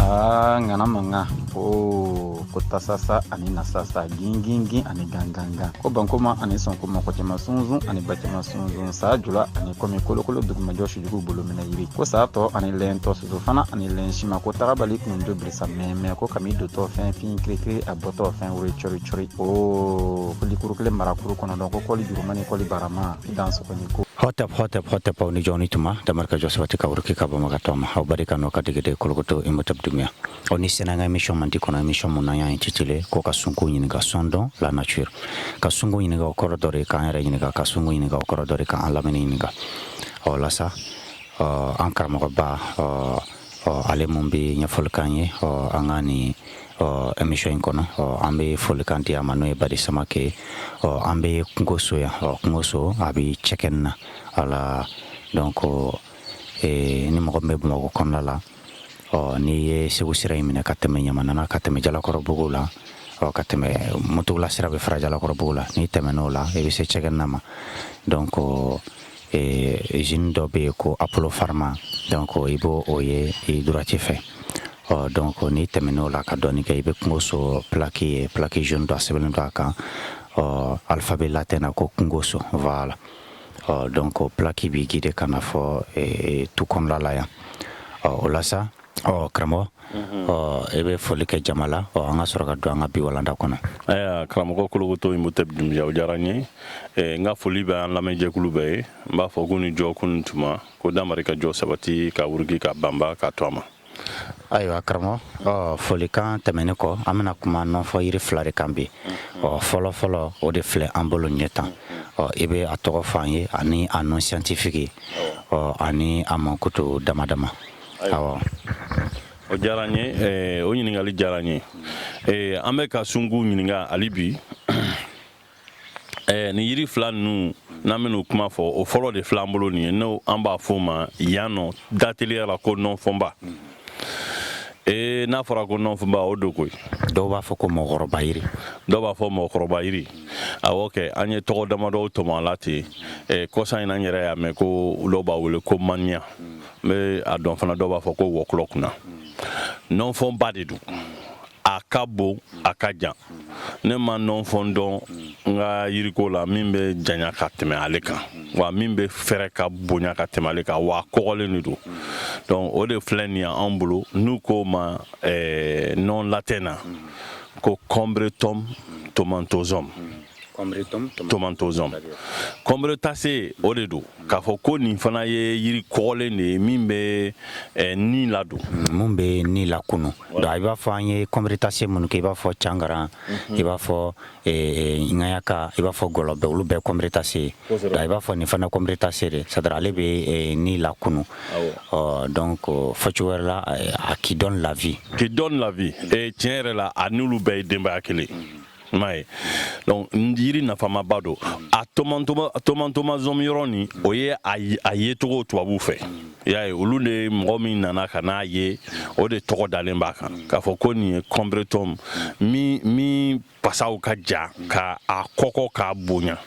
Aa ŋana mankan o ko tasasa ani nasasa gingingin ani gangangan ko bankuma ani sɔnkuma kɔ cɛma sunsun ani ba cɛma sunsun saa jula ani kɔmi kolokolo dugumajɔ sujugu bolo minɛ yiri ko saa tɔ ani lɛn tɔ soso fana ani lɛn sima ko tagabali kun jo bilisa mɛmɛ ko kami dotɔ fɛn fin kirikiri a bɔtɔ fɛn woro cɔri cɔri o ko likuru kelen marakuru kɔnɔ dɔn ko kɔli juruma ni kɔli barama dan sɔgɔ ni ko hɔtɛp hɔtɛp hɔtɛp aw ni jɔ ni tuma damarika jɔ sabati ka wuriki ka banba ka to ma aw barika n'o ka degede kolokoto imotɛp dunbiya aw ni sɛnɛ an ka émission mandi kɔnɔ émission min n'an y'a intitulé ko ka sungu ɲininka sondons la nature ka sungu ɲininka o kɔrɔ dɔ de k'an yɛrɛ ɲininka ka sungu ɲininka o kɔrɔ dɔ de k'an lamini ɲininka o la sa an karamɔgɔba ɔ ale mun bɛ ɲɛfɔli k'an ye ɔ an ka ni ɔ emission in kɔnɔ ɔ an bɛ folikan di a ma n'o ye bari samake ɔ an bɛ kungoso yan ɔ kungoso a bɛ cɛgɛna la donc ee, ni mɔgɔ min bɛ bamakɔ kɔnɔna la ɔ n'i ye segu sira in minɛ ka tɛmɛ ɲamana na ka tɛmɛ jalakɔrɔbugu la ɔ ka tɛmɛ muntugula sira bɛ fara jalakɔrɔbugu la n'i tɛmɛn'o la i bɛ se cɛgɛna ma donc zine dɔ bɛ yen ko apollo pharma donc i b'o o ye i droite fɛ ɔ donc n'i tɛmɛn'o la ka dɔɔni kɛ i bɛ kungo so plaki ye plaki jaune dɔ a sɛbɛnnen don a kan ɔ alphabet latin na ko kungo so voilà ɔ donc plaki b'i guider ka na fɔ tu kɔnɔnala yan ɔ o la Ɔ karamɔgɔ ɔ e bɛ foli kɛ jama la ɔ an ka sɔrɔ ka don an ka bi walanda kɔnɔ karamɔgɔ kolokoto imotɛp dunbiya o diyara n ye n ka foli bɛ an lamɛnjɛkulu bɛɛ ye n b'a fɔ k'u ni jɔ k'u ni tuma ko damarika jɔ sabati ka wuriki ka banba ka to a ma ayiwa karamɔgɔ ɔ folikan tɛmɛnen kɔ an bɛna kuma nɔnfɔn yiri fila de kan bi ɔ fɔlɔfɔlɔ o de filɛ an bolo ɲɛ tan ɔ i bɛ a tɔgɔ f'an ye ani a nom scientifique ɔ ani a mankutu dama dama ayiwa o diyara n ye eh, o ɲininkali diyara n ye eh, an bɛ ka sungu ɲininka hali bi eh, nin yiri fila ninnu n'an bɛn'u kuma fɔ o fɔlɔ de filɛ an bolo nin ye n'o an b'a fɔ o ma yan nom d'atelier la ko nɔnfɔnba ee n'a fɔra ko nɔnfɔnba o don koyi dɔw b'a fɔ ko mɔgɔkɔrɔba yiri dɔw b'a fɔ mɔgɔkɔrɔba yiri awɔ kɛ an ye tɔgɔ damadɔw tɔmɔ a la ten kɔsa in na n yɛrɛ y'a mɛn ko dɔw b'a wele ko maniya n bɛ a dɔn fana dɔw b'a fɔ ko wɔkulɔ kunna nɔnfɔnba de don a ka bon a ka jan ne ma nɔnfɔn dɔn n ka yiriko la min bɛ janya ka tɛmɛ ale kan wa min bɛ fɛɛrɛ ka bonya ka tɛmɛ ale kan wa kɔgɔlen de don donc o de filɛ nin y'an bolo n'u k'o ma eh, nom latin na ko combretum tomentosum tomentosum combrétacée o de don k'a fɔ ko nin fana ye yiri kɔgɔlen de ye min bɛ eh, ni ladon mm, min bɛ ni lakunu don i b'a fɔ an ye combrétacées minnu kɛ i b'a fɔ cangara mhm. i b'a fɔ eh, ŋaɲaka i b'a fɔ gɔlɔbɛ olu bɛɛ combrétacées ye i b'a fɔ nin fana combrétacée de c'est à dire ale bɛ eh, ni lakunu donc fɔcogo wɛrɛ la a qui donne la vie qui donne la vie tiɲɛ yɛrɛ la a n'olu bɛɛ ye denbaya kelen mhm. maa ye donc yiri nafamaba don a tomentosum yɔrɔ nin o ye a yecogo tubabuw fɛ y'a ye olu de mɔgɔ min nana ka n'a ye o de tɔgɔ dalen b'a kan k'a fɔ ko nin ye combretum min min pasaw ka ja ka a kɔgɔ k'a bonya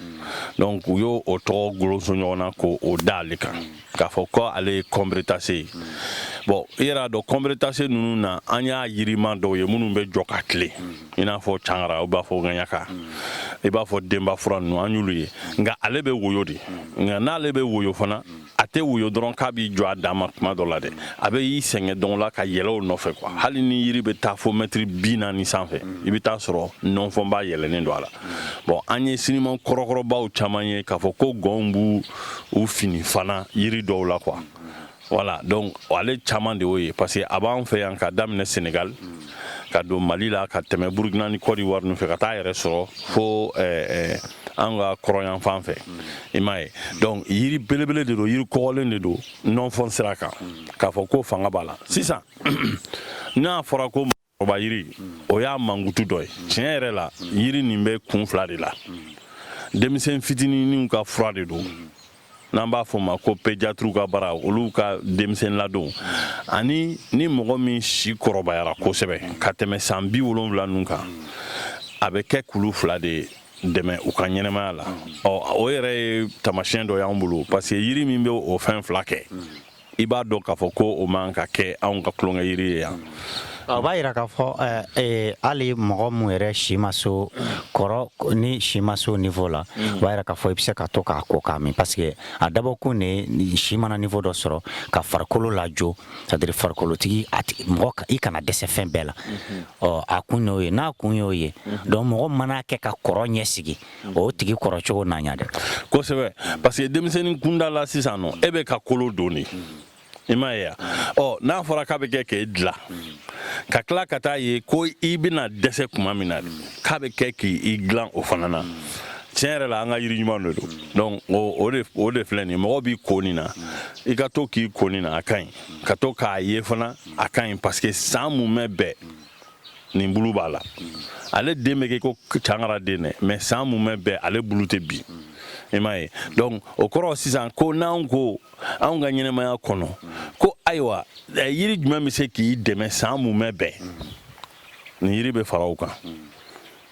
donc u y'o o tɔgɔ kolonso ɲɔgɔn na ko o da ale kan k'a fɔ ko ale ye combrétacée ye bon i yɛrɛ a dɔn combrétacées ninnu na an y'a yirima dɔw ye minnu bɛ jɔ ka tilen i n'a fɔ cangara u b'a fɔ ŋaɲaka i b'a fɔ denba fura ninnu an y'olu ye nka ale bɛ woyo de nka n'ale bɛ woyo fana a tɛ woyo dɔrɔn k'a b'i jɔ a dan ma tuma dɔ la dɛ a bɛ y'i sɛmɛ dɔw la ka yɛlɛ u nɔfɛ quoi hali ni yiri bɛ taa fo mɛtiri bi naani sanfɛ i bɛ taa sɔrɔ nɔnfɔnba yɛlɛnen don a la bon an ye siniman kɔrɔkɔrɔbaw caman ye k'a fɔ ko gɔnw b'u u fini fana yiri dɔw la quoi voilà donc ale caman de y'o ye parce que a b'an fɛ yan ka daminɛ Sénégal ka don Mali la ka tɛmɛ Burkina ni Côte d'Ivoire ninnu fɛ ka taa yɛrɛ sɔrɔ fo eh, eh, an ka kɔrɔn yanfan fɛ i m'a ye donc yiri belebele de don yiri kɔgɔlen de don nɔnfɔn sira kan k'a fɔ ko fanga b'a la sisan n'a fɔra ko ba yiri o y'a mankutu dɔ ye tiɲɛ yɛrɛ la yiri nin bɛ kun fila de la denmisɛn fitinininw ka fura de don n'an b'a fɔ ma ko pédiatrew ka baara olu ka denmisɛn ladon ani ni mɔgɔ min si kɔrɔbayara kosɛbɛ ka tɛmɛ san bi wolonwula ninnu kan a bɛ kɛ k'olu fila de dɛmɛ u ka ɲɛnamaya la ɔ o yɛrɛ ye taamasiyɛn dɔ y'an bolo parce que yiri min bɛ o fɛn fila kɛ i b'a dɔn k'a fɔ ko o man ka kɛ anw ka tulonkɛ yiri ye yan o b'a yira k'a fɔ eh, eh, hali mɔgɔ min yɛrɛ si ma se o kɔrɔ ni si ma se o niveau la mm. o b'a yira k'a fɔ i bɛ se ka to k'a ko k'a min parce que a dabɔkun de si mana niveau dɔ sɔrɔ ka farikolo lajɔ c'est à dire farikolotigi a tigi mɔgɔ i kana dɛsɛ fɛn bɛɛ la mm-hmm. ɔ a kun y'o ye n'a kun y'o ye mm-hmm. donc mɔgɔ mana kɛ ka kɔrɔ ɲɛsigi o tigi kɔrɔ cogo na ɲa dɛ kosɛbɛ parce que denmisɛnnin kunda la sisan n'o y'e bɛ ka kolo don de i m'a ye ɔ n'a fɔra k'a bɛ kɛ k'i dila ka tila ka t'a ye ko i bɛna dɛsɛ tuma min na k'a bɛ kɛ k'i dilan o fana na tiɲɛ yɛrɛ la an ka yiri ɲuman de don donc o de o de filɛ nin mɔgɔ b'i ko nin na i ka to k'i ko nin na a ka ɲi ka to k'a ye fana a ka ɲi parce que san mumɛ bɛɛ nin bulu b'a la ale den bɛ kɛ ko cangara den dɛ mais san mumɛ bɛɛ ale bulu tɛ bin i m'a ye donc o kɔrɔ sisan ko n'anw ko anw ka ɲɛnɛmaya kɔnɔ ko ayiwa eh, yiri jumɛn bɛ se k'i dɛmɛ san mumɛ bɛɛ nin yiri bɛ fara o kan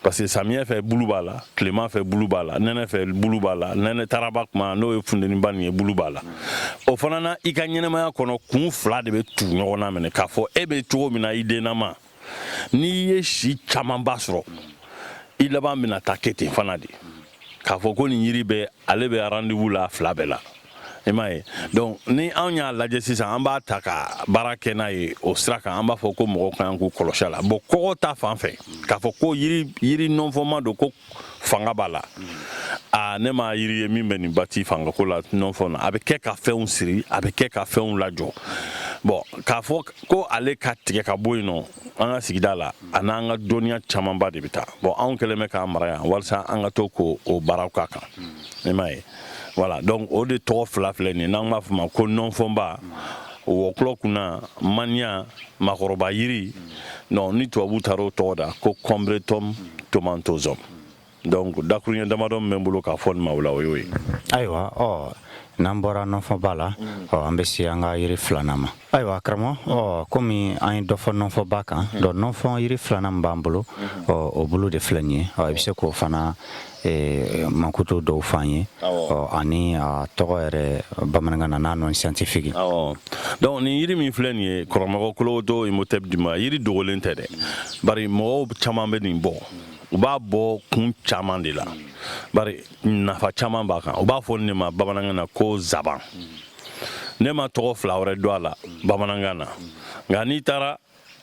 parce que samiyɛ fɛ bulu b'a la tilema fɛ bulu b'a la nɛnɛ fɛ bulu b'a la nɛnɛ taraba kuma n'o ye funteniba nin ye bulu b'a la o fana na i ka ɲɛnɛmaya kɔnɔ kun fila de bɛ tugu ɲɔgɔn na minɛ k'a fɔ e bɛ cogo min na i dennama n'i ye si camanba sɔrɔ i laban bɛna taa kɛ ten fana de k'a fɔ ko nin yiri bɛ ale bɛ rendez-vous la fila bɛɛ la i m'a ye donc ni anw y'a lajɛ sisan an b'a ta ka baara kɛ n'a ye o sira kan an b'a fɔ ko mɔgɔw ka kan k'u kɔlɔsi a la bon kɔgɔ ta fan fɛ k'a fɔ ko yiri yiri nɔnfɔma don ko fanga b'a la a ne ma yiri ye min bɛ nin bati fangako la nɔnfɔ na a bɛ kɛ ka fɛnw siri a bɛ kɛ ka fɛnw lajɔ bon k'a fɔ ko ale ka tigɛ ka bɔ yen nɔ an ka sigida la a n'an ka dɔnniya camanba de bɛ taa bon anw kɛlen bɛ k'an mara yan walisa an ka to k'o baaraw k'a kan i m'a ye voilà donc o de tɔgɔ fila filɛ nin n'an b'a fɔ ma ko nɔnfɔnba wɔkulɔ kunna maniya makɔrɔba yiri ni tubabu taara o tɔgɔ da ko combretum tomentosum donc dakuruɲɛ damadɔ min bɛ n bolo k'a fɔ nin ma o la o y'o ye ayiwa ɔ n'an bɔra nɔnfɔba la mm. ɔ an bɛ se an ka yiri filanan ma ayiwa karamɔgɔ ɔ komi an ye dɔ fɔ nɔnfɔba kan mm. donc nɔnfɔ yiri filanan min b'an bolo mm. ɔ o bulu de filɛ nin ye ɔ i bɛ se k'o fana e, mankutu dɔw fɔ an ye ɔ ani a tɔgɔ yɛrɛ bamanankan na n'a nom scientifique donc nin yiri min filɛ nin ye karamɔgɔ kolowoto imhotep dima yiri dogolen tɛ dɛ bari mɔgɔw caman bɛ nin bɔ u b'a bɔ kun caman de la bari nafa caman b'a kan u b'a fɔ nin ma bamanankan na ko zaban ne ma tɔgɔ fila wɛrɛ dɔn a la bamanankan na nka n'i taara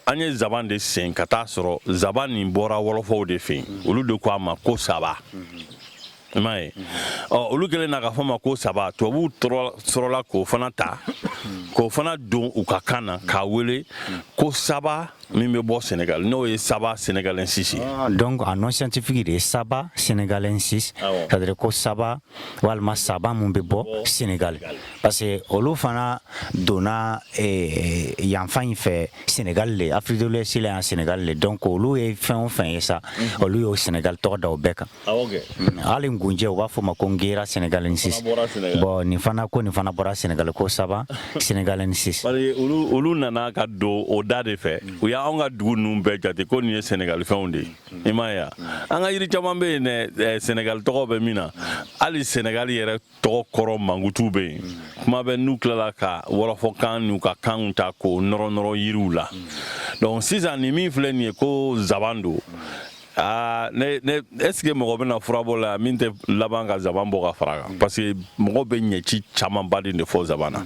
an ye zaban de sen ka taa sɔrɔ zaban nin bɔra wɔlɔfɔw de fɛ yen olu de ko a ma ko saba i m'a ye ɔ olu kɛlen na k'a fɔ ma ko saba tubabuw sɔrɔla k'o fana ta k'o fana don u ka kan na k'a wele ko saba min bɛ bɔ senegal n'o ye saba senegalensis ye ah, donc a nom scientifique de ye saba senegalensis ah c'est à dire ko saba walima saba min bɛ bɔ senegal parce que olu fana donna eh, yanfan in fɛ senegal de afrique de l'ouest la yan senegal de donc olu ye fɛn o fɛn ye sa mhm. olu y'o senegal tɔgɔ da o bɛɛ kan Hali gunjɛ u b'a fɔ ma ko guiera senegalensis bon nin fana ko nin fana bɔra sɛnɛgali ko saba senegalensis parce que olu nana ka don o da de fɛ u y'an ka dugu ninnu bɛɛ jate ko nin ye sɛnɛgalifɛnw de ye i m'a ye an ka yiri caman bɛ yen sɛnɛgali tɔgɔ bɛ min na hali sɛnɛgali yɛrɛ tɔgɔ kɔrɔ mankutu bɛ yen kuma bɛ n'u tilala ka wɔlɔfɔkan n'u ka kanw ta k'o nɔrɔnɔrɔ yiriw la donc sisan nin min filɛ nin ye ko zaban don aa ne ne est-ce que mɔgɔ bɛna furabɔla ye min tɛ laban ka zaban bɔ ka fara kan parce que mɔgɔ bɛ ɲɛci camanba de de fɔ zaban na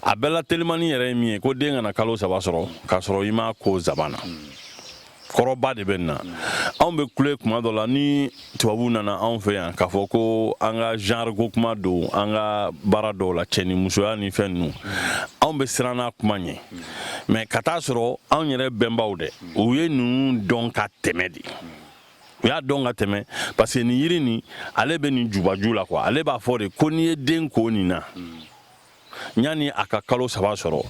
a bɛɛ la telimani yɛrɛ ye min ye ko den kana kalo saba sɔrɔ k'a sɔrɔ i m'a ko zaban na kɔrɔba de bɛ nin na anw bɛ kule kuma dɔ la ni tubabu nana anw fɛ yan k'a fɔ ko an ka genre ko kuma don an ka baara dɔw la cɛ ni musoya ni fɛn ninnu anw bɛ siran n'a kuma ɲɛ mais ka taa sɔrɔ anw yɛrɛ bɛnbaw dɛ u ye ninnu dɔn ka tɛmɛ de u y'a dɔn ka tɛmɛ parce que nin yiri nin ale bɛ nin jubaju la quoi ale b'a fɔ de ko n'i ye den ko nin na yanni a ka kalo saba sɔrɔ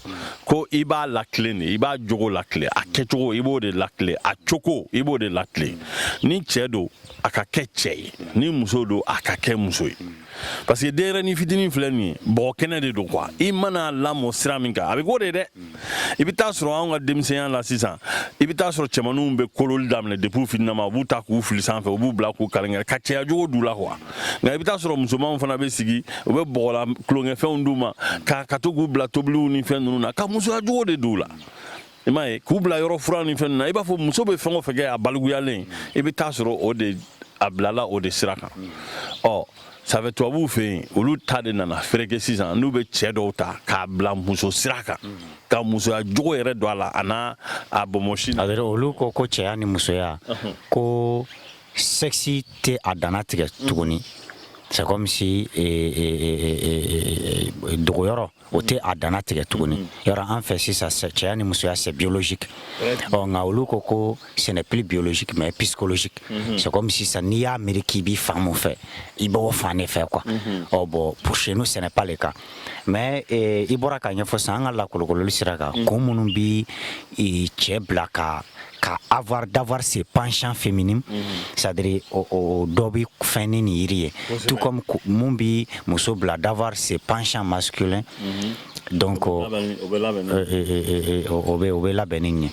ko i b'a latilen de i b'a jogo latilen a kɛcogo i b'o de latilen a cogo i b'o de latilen ni cɛ don a ka kɛ cɛ ye ni muso don a ka kɛ muso ye parce que denyɛrɛni fitinin filɛ nin ye bɔgɔ kɛnɛ de don quoi i mana lamɔ sira min kan a bɛ k'o de dɛ i bɛ taa sɔrɔ anw ka denmisɛnya la sisan i bɛ taa sɔrɔ cɛmanninw bɛ kololi daminɛ depuis fitinama u b'u ta k'u fili sanfɛ u b'u bila k'u kalenkɛrɛ ka cɛya jogo d'u la quoi nka i bɛ taa sɔrɔ musomanw fana bɛ sigi u bɛ bɔgɔla tulonkɛfɛnw d'u ma ka ka to k'u bila tobiliw ni fɛn ninnu na ka musoya jogo de d'u la i m'a ye k'u bila yɔrɔ furan ni fɛn ninnu na i b'a fɔ muso bɛ fɛn o fɛn kɛ a balikuyalen i bɛ taa sɔrɔ o de a bilala o de sira kan ɔ safɛ tubabuw fɛ yen olu ta de nana fereke sisan n'u bɛ cɛ dɔw ta k'a bila muso sira kan ka musoya jogo yɛrɛ don a la a n'a a bonbonsi na olu ko ko cɛya ni musoya ko sexe tɛ a danna tigɛ tuguni c'est comme si dogoyɔrɔ o tɛ a danna tigɛ tuguni mm. yɔrɔ an fɛ sisan cɛya ni musoya c'est biologique ɔ nka olu ko ko ce n'est plus biologique mais psychologique mm-hmm. c'est comme sisan n'i y'a miiri k'i bi fan mun fɛ i b'o fan de fɛ quoi mm-hmm. ɔ bon pour chez nous ce n'est pas le cas mais eh, i bɔra k'a ɲɛfɔ sisan an ka lakolokololi sira kan mm. kun minnu bi cɛ bila ka ka avoir d'avoir ses penchants féminins mm -hmm. c'est à dire o, o dɔ bɛ fɛn ni nin yiri ye tout comme mun bɛ muso bila d'avoir ses penchants masculins mm -hmm. donc o bɛ labɛn ni nin ye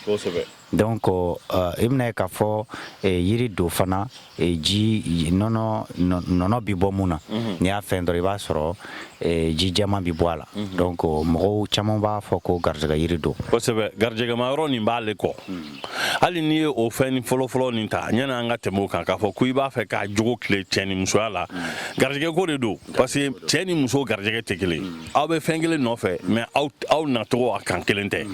donc i bɛn'a ye k'a fɔ yiri don fana e, ji nɔnɔ nɔnɔ bɛ bɔ mun na mhm. n'i y'a fɛn dɔrɔn i b'a sɔrɔ e, ji jɛman bɛ bɔ a la mhm. donc mɔgɔw caman b'a fɔ ko garijɛgɛ yiri don kosɛbɛ garijɛgɛma yɔrɔ nin b'ale kɔ mhm. hali n'i ye o fɛn fɔlɔfɔlɔ nin ta yanni an ka tɛmɛ o kan k'a fɔ ko i b'a fɛ k'a jogo tilen cɛ ni musoya la garijɛgɛ ko de don parce que cɛ ni muso garijɛgɛ tɛ kelen aw bɛ fɛn kelen nɔfɛ mais aw nacogo a kan kelen tɛ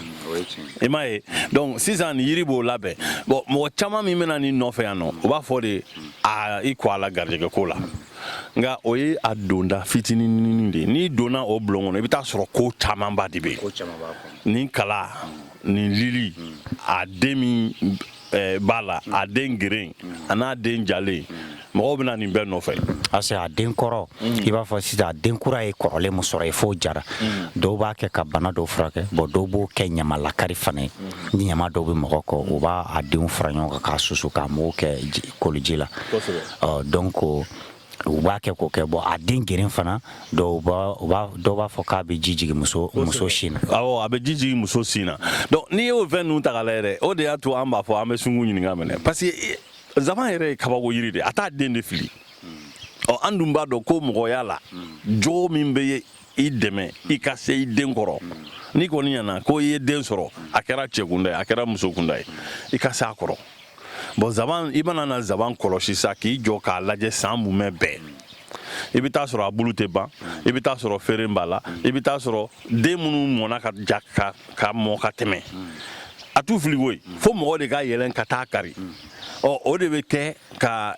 i m'a ye donc sisan ni yiri b'o labɛn bon mɔgɔ caman min bɛna nin nɔfɛ yan nɔ o b'a fɔ de a i ko a la garijɛgɛ ko la nka o ye a donda fitininin de ye n'i donna o bulon kɔnɔ i bɛ taa sɔrɔ ko camanba de bɛ yen nin kala nin lili a den min eh, b'a la a den geren a n'a den jalen mɔgɔw bɛna nin bɛɛ nɔfɛ parce que a den kɔrɔ i b'a fɔ sisan a den kura ye kɔrɔlen min sɔrɔ yen f'o jara dɔw b'a kɛ ka bana dɔw furakɛ bon dɔw b'o kɛ ɲama lakari fana ye ni ɲama dɔw bɛ mɔgɔ kɔ u b'a a denw fara ɲɔgɔn kan k'a susu k'a mugu kɛ ji- koliji la Kosɛbɛ. Ɔ, donc U b'a kɛ k'o kɛ bon a den geren fana dɔw b'a fɔ k'a bɛ ji jigin muso sin na a bɛ ji jigin muso sin na donc n'i y'o fɛn ninnu ta k'a lajɛ dɛ o de y'a to an b'a fɔ an bɛ sun kun ɲininka minɛ parce que zaban yɛrɛ ye kabako yiri de a t'a den de fili ɔ an dun b'a dɔn ko mɔgɔya la jogo min bɛ i dɛmɛ i ka se i den kɔrɔ n'i kɔni ɲɛna ko i ye den sɔrɔ a kɛra cɛkunda ye a kɛra musokunda ye i ka se a kɔrɔ bon zaban i mana na zaban kɔlɔsi sa k'i jɔ k'a lajɛ san mumɛ bɛɛ i bɛ taa sɔrɔ a bulu tɛ ban i bɛ taa sɔrɔ feere b'a la i bɛ taa sɔrɔ den minnu mɔna ka ja ka mɔ ka tɛmɛ a t'u fili koyi fo mɔgɔ de ka yɛlɛn ka taa kari ɔ o de bɛ kɛ ka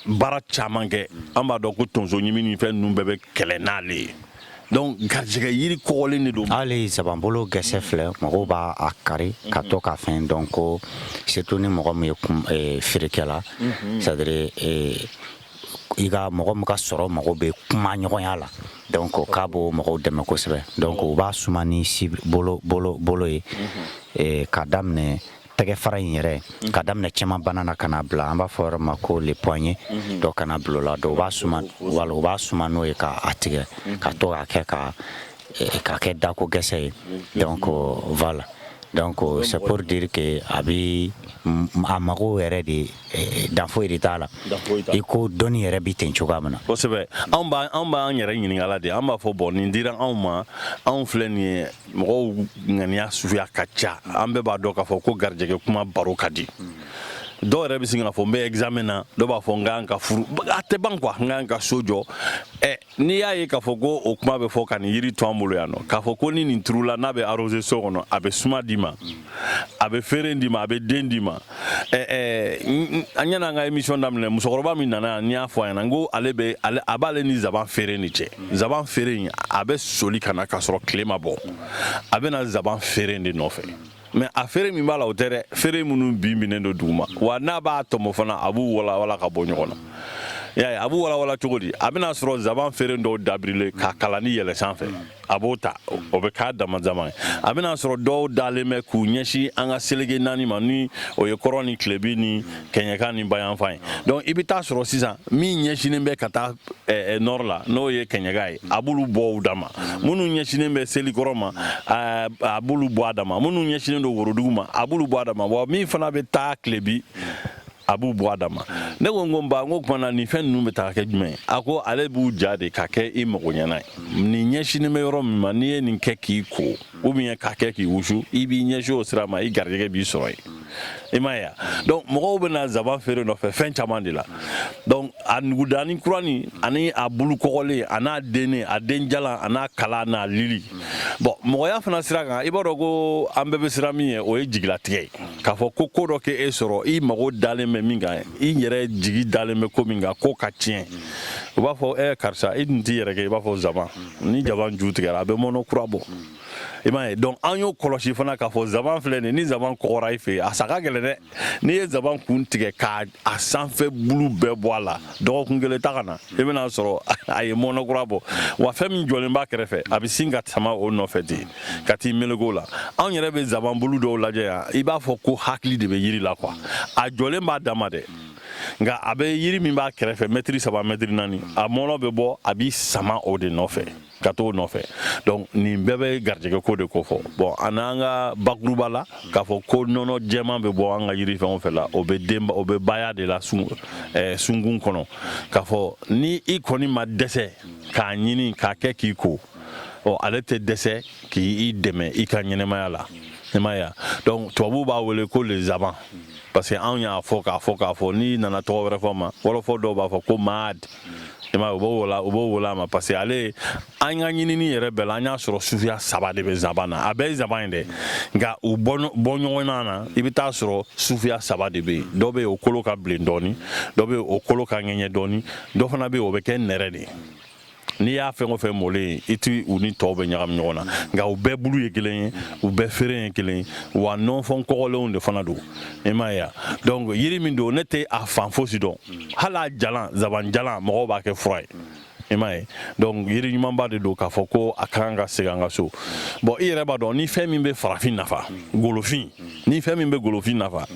baara caman kɛ an b'a dɔn ko tonsoɲimi ni fɛn ninnu bɛɛ bɛ kɛlɛ n'ale ye donc garijɛgɛ yiri kɔgɔlen de don hali zabanbolo gɛsɛ filɛ mɔgɔw b'a a kari ka to ka fɛn donc surtout ni mɔgɔ min ye eh, feerekɛla mhm. c'est à dire eh, i ka mɔgɔ min ka sɔrɔ mago bɛ kuma ɲɔgɔnya la donc k'a b'o mɔgɔw dɛmɛ kosɛbɛ donc u b'a suma ni si bolo bolo bolo ye mhm. eh, ka daminɛ tɛgɛ fara in yɛrɛ mhm. ka daminɛ cɛman bana na ka na bila an b'a fɔ yɔrɔ ma ko le poignet mhm. dɔ kana bila o la donc u b'a suma n'o ye k'a tigɛ mhm. ka to k'a kɛ ka eh, ka kɛ dako gɛsɛ ye donc voilà donc c'est pour dire que a bi a mago yɛrɛ de eh, dan foyi de t'a la i ko dɔnni yɛrɛ bɛ ten cogoya min na kosɛbɛ anw b'an yɛrɛ ɲininkala de an b'a fɔ bon nin dira anw ma anw filɛ nin ye mɔgɔw ŋaniya suguya ka ca an bɛɛ b'a dɔn k'a fɔ ko garijɛgɛ kuma baro ka di dɔw yɛrɛ bɛ sin k'a fɔ n bɛ examen na dɔw b'a fɔ n ka kan ka furu a tɛ ban quoi n ka kan ka so jɔ ɛ n'i y'a ye k'a fɔ ko o kuma bɛ fɔ ka nin yiri to an bolo yan nɔ k'a fɔ ko ni nin turula n'a bɛ arrosé so kɔnɔ a bɛ suma d'i ma. Mm. a bɛ feere d'i ma a bɛ den d'i ma an yanni an ka émission daminɛ musokɔrɔba min nana yan n y'a fɔ a ɲɛna n ko ale bɛ a b'ale ni zaban feere ni cɛ zaban feere in a bɛ soli ka na k'a sɔrɔ tile ma bɔ a bɛ na zaban feere de nɔfɛ mais a feere min b'a la o tɛ dɛ feere minnu binnen don duguma wa n'a b'a tɔmɔ fana a b'u walawala ka bɔ ɲɔgɔn na y'a ye a b'u walawala cogo di a bɛna sɔrɔ zaban feere dɔw dabirilen k'a kalanin yɛlɛn sanfɛ a b'o ta o bɛ k'a damadama ye a bɛna sɔrɔ dɔw dalen bɛ k'u ɲɛsin an ka seleke naani ma ni o ye kɔrɔn ni tilebi ni kɛɲɛka ni bayanfan ye donc i bɛ taa sɔrɔ sisan min ɲɛsinen bɛ ka taa eh, eh, nord la n'o ye kɛɲɛka ye a b'olu bɔ u dama minnu ɲɛsinen bɛ selikɔrɔn ma eh, a b'olu bɔ a dama minnu ɲɛsinen don worodugu ma a b'olu bɔ a dama wa min fana bɛ taa tilebi a b'u bɔ a dama ne ko n ko ba n ko kumana nin fɛn ninnu bɛ taa kɛ jumɛn ye a ko ale b'u ja de ka kɛ i mago ɲɛna ye nin ɲɛsinen bɛ yɔrɔ min ma n'i ye nin kɛ k'i ko ou bien k'a kɛ k'i wusu i b'i ɲɛsin o sira ma i garijɛgɛ b'i sɔrɔ yen i m'a ye wa donc mɔgɔw bɛ na zaban feere nɔfɛ fɛn caman de la donc a nugudani kuranin ani a bulu kɔgɔlen a n'a dennen a den jalan a n'a kala n'a lili bon mɔgɔya fana sira kan i b'a dɔn ko an bɛɛ bɛ siran min ɲɛ o ye jigilatigɛ ye k'a fɔ ko ko dɔ ka e sɔrɔ i mago dalen bɛ min kan i yɛrɛ jigi dalen bɛ ko min kan k'o ka tiɲɛ u b'a fɔ ɛ karisa i dun t'i yɛrɛ kɛ i b'a fɔ zaban ni zaban ju tigɛra a bɛ mɔnɔ kura bɔ i m'a ye donc an y'o kɔlɔsi fana k'a fɔ zaban filɛ nin ni zaban kɔgɔra i fɛ yen a sa ka gɛlɛn dɛ n'i ye zaban kun tigɛ k'a a sanfɛ bulu bɛɛ bɔ a la dɔgɔkun kelen taa ka na i bɛna a sɔrɔ a ye mɔnɔkura bɔ wa fɛn min jɔlen b'a kɛrɛfɛ a bɛ sin ka sama o nɔfɛ ten ka t'i meleke o la anw yɛrɛ bɛ zaban bulu dɔw lajɛ yan i b'a fɔ ko hakili de bɛ yiri la quoi a jɔlen b'a dama dɛ nka a bɛ yiri min b'a kɛrɛfɛ mɛtiri saba mɛtiri naani a mɔnɔ bɛ bɔ a b'i sama o de nɔfɛ ka t'o nɔfɛ donc nin bɛɛ bɛ garijɛgɛ ko de kofɔ bon an n'an ka bakuruba la k'a fɔ ko nɔnɔ jɛman bɛ bɔ an ka yiri fɛn o fɛn la o bɛ den o bɛ baya de la sun eh, sunkun kɔnɔ k'a fɔ ni i kɔni ma dɛsɛ k'a ɲini k'a kɛ k'i ko ɔ ale tɛ dɛsɛ k'i dɛmɛ i ka ɲɛnamaya la i m'a ye donc tubabuw b'a wele ko le zaban parce que anw y'a fɔ k'a fɔ k'a fɔ n'i nana tɔgɔ wɛrɛ fɔ a ma wɔlɔfɔ dɔw b'a fɔ ko maad i m'a ye u b'o wele u b'o wele a ma parce que ale an ka ɲinini yɛrɛ bɛɛ la an y'a sɔrɔ suguya saba de bɛ zaban na a bɛɛ ye zaban ye dɛ nka u bɔ ɲɔgɔnna na i bɛ taa sɔrɔ suguya saba de bɛ yen dɔ bɛ yen o kolo ka bilen dɔɔni dɔ bɛ yen o kolo ka ŋɛɲɛ dɔɔni dɔ fana bɛ yen o bɛ kɛ nɛrɛ de ye n'i y'a fɛn o fɛn mɔlen ye i ti u ni tɔw bɛ ɲagami ɲɔgɔn na nka u bɛɛ bulu ye kelen ye u bɛɛ feere ye kelen ye wa nɔnfɔn kɔgɔlenw de fana don i m'a ye donc yiri min don ne tɛ a fan fosi dɔn hali a jalan zaban jalan mɔgɔw b'a kɛ fura ye i m'a ye donc yiri ɲumanba de don k'a fɔ ko a ka kan ka segin an ka so bon i yɛrɛ b'a dɔn ni fɛn min bɛ farafin nafa golofin ni fɛn min bɛ golofin nafa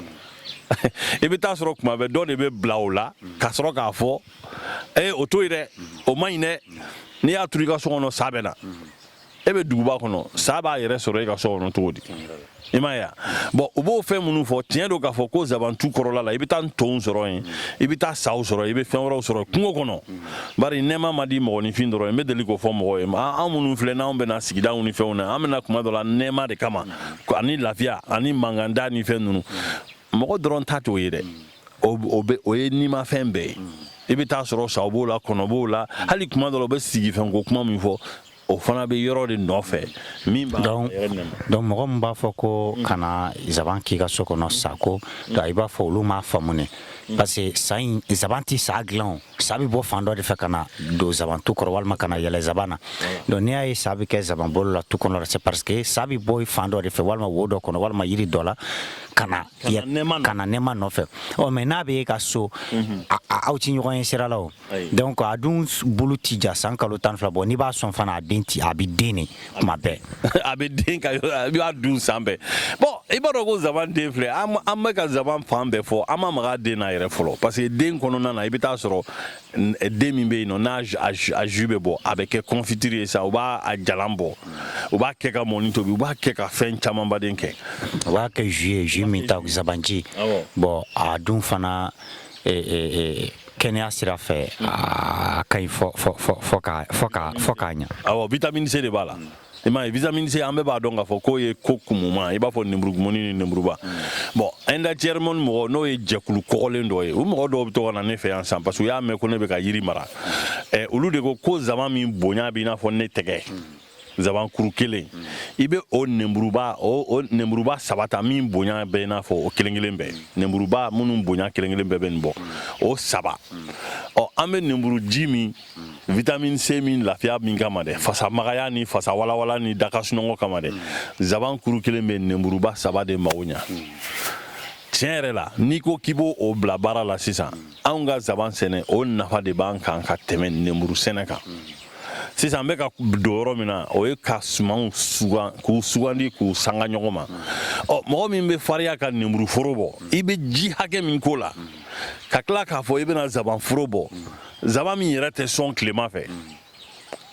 i bɛ taa sɔrɔ kuma bɛɛ dɔ de bɛ bila o la ka sɔrɔ k'a fɔ ee o to yen dɛ o man ɲi dɛ n'i y'a turu i ka so kɔnɔ sa bɛ na e bɛ duguba kɔnɔ sa b'a yɛrɛ sɔrɔ e ka so kɔnɔ cogo di i m'a ye bon u b'o fɛn minnu fɔ tiɲɛ don k'a fɔ ko zabantu kɔrɔla la i bɛ taa ntonw sɔrɔ yen i bɛ taa saw sɔrɔ i bɛ fɛn wɛrɛw sɔrɔ kungo kɔnɔ bari nɛɛma ma di mɔgɔninfin dɔrɔn n bɛ deli k'o fɔ mɔgɔw ye an minnu filɛ n'anw bɛna sigidaw ni fɛnw na an bɛna kuma dɔ la nɛɛma de kama ani lafiya ani manganda ni fɛn ninnu mɔgɔ dɔrɔn ta t'o ye dɛ o ye nimafɛn bɛɛ ye i bɛ taa sɔrɔ saw b'o la kɔnɔ b'o la hali kuma dɔ la u bɛ sigifɛnko kuma min fɔ O fana bɛ yɔrɔ de nɔfɛ min b'a yɛrɛ nɛɛma donc mɔgɔ min b'a fɔ ko kana zaban k'i ka so kɔnɔ sa ko i b'a fɔ olu m'a faamu ne parce que zaban tɛ sa dilan sa bɛ bɔ fan dɔ de fɛ ka na don zabantu kɔrɔ walima ka na yɛlɛ zaban na donc n'i y'a ye sa bɛ kɛ zaban bolo la tu kɔnɔ c'est parce que sa bɛ bɔ fan dɔ de fɛ walima wo dɔ kɔnɔ walima yiri dɔ la ka na ka na nɛɛma nɔfɛ ɔ mais n'a bɛ e ka so aw tɛ ɲɔgɔn ye sira la o Donc a dun bulu ti ja san kalo tan ni fila bon n'i b'a sɔn fana a den ci a bɛ den ne kuma bɛɛ a bɛ den b'a dun san bɛɛ bon i b'a dɔn ko zaban den filɛ an bɛ ka zaban fan bɛɛ fɔ an ma maga den na yɛrɛ fɔlɔ parce que den kɔnɔna na i bɛ taa a sɔrɔ den min bɛ yen nɔn n'a jus bɛ bɔ a bɛ kɛ kɔnfitiri ye sa u b'a jalan bɔ u b'a kɛ ka mɔni tobi u b'a kɛ ka fɛn camanba de kɛ u b'a kɛ jus ye jus min ta zabanji bon a dun fana kɛnɛya sira fɛ a ka ɲi fo ka ɲa awɔ vitamine C de b'a la i m'a ye vitamine C an bɛɛ b'a dɔn k'a fɔ k'o ye ko kumuma i b'a fɔ nemurukumuni ni nemuruba bon ɛndacɛrimɔni mɔgɔ n'o ye jɛkulu kɔgɔlen dɔ ye o mɔgɔ dɔw bɛ to ka na ne fɛ yan san parce que u y'a mɛn ko ne bɛ ka yiri mara olu de ko ko zaban min bonya bɛ i n'a fɔ ne tɛgɛ nsabankuru kelen i bɛ o nenburuba o nenburuba saba ta min bonya bɛ i n'a fɔ o kelen kelen bɛɛ nenburuba minnu bonya kelen kelen bɛɛ bɛ nin bɔ o saba ɔ an bɛ nenburu ji min vitamine C min lafiya min kama dɛ fasa magaya ni fasa walawala ni da ka sunɔgɔ kama dɛ nsaban kuru kelen bɛ nenburuba saba de mago ɲa tiɲɛ yɛrɛ la n'i ko k'i b'o o bila baara la sisan anw ka nsaban sɛnɛ o nafa de b'an kan ka tɛmɛ nenburu sɛnɛ kan sisan an bɛ ka don yɔrɔ min na o ye ka sumanw sugan k'u sugandi k'u sanga ɲɔgɔn ma ɔ mɔgɔ min bɛ farinya ka nemuruforo bɔ i bɛ ji hakɛ min k'o la ka tila k'a fɔ i bɛna zabanforo bɔ zaban min yɛrɛ tɛ sɔn tilema fɛ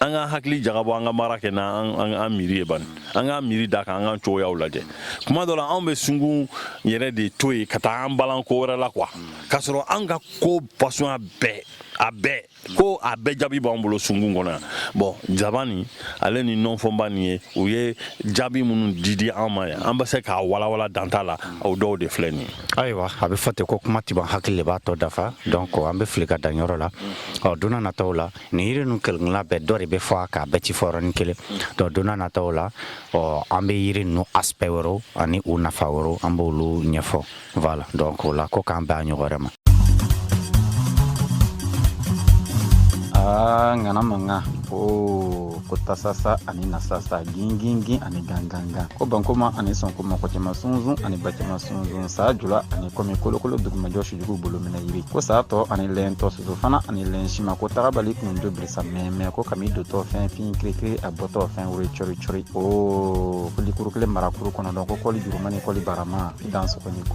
an ka hakili jagabɔ an ka baara kɛ n'an miiri ye bani an ka miiri da kan an ka cogoyaw lajɛ kuma dɔ la anw bɛ sungun yɛrɛ de to yen ka taa an balan ko wɛrɛ la quoi k'a sɔrɔ an ka ko fasɔnya bɛɛ a bɛɛ ko a bɛɛ jaabi b'an bolo sunkun kɔnɔ yan bon zaban nin ale ni nɔnfɔnba nin ye u ye jaabi minnu di an ma yan an bɛ se k'a walawala dan t'a la o dɔw de filɛ nin ayiwa a bɛ fɔ ten ko kuma ti ban hakili de b'a tɔ dafa donc an bɛ fili ka dan yɔrɔ la ɔ donna nataw la nin yiri ninnu kelenkelenna bɛɛ dɔ de bɛ fɔ a kan a bɛɛ ti fɔ yɔrɔnin kelen donc donna nataw la ɔ an bɛ yiri ninnu aspect wɛrɛw ani u nafa wɛrɛw an b'olu ɲɛfɔ Voilà donc o la ko k'an bɛn ɲɔgɔn wɛrɛ ma aa ŋana mankan ko ko tasasa ani nasasa gingingin ani gangangan ko bankoma ani sɔnkoma kɔ cɛma sunsun ani ba cɛma sunsun saa jula ani kɔmi kolokolo dugumajɔ sujugu bolo minɛ yiri ko saa tɔ ani lɛn tɔ soso fana ani lɛn sima ko tagabali kun do birisa mɛmɛ ko kami dotɔ fɛn fin kirikiri a bɔtɔ fɛn wore cɔri cɔri o ko likuru kelen marakuru kɔnɔ dɔn ko kɔli juruma ni kɔli barama dan sɔgɔni ko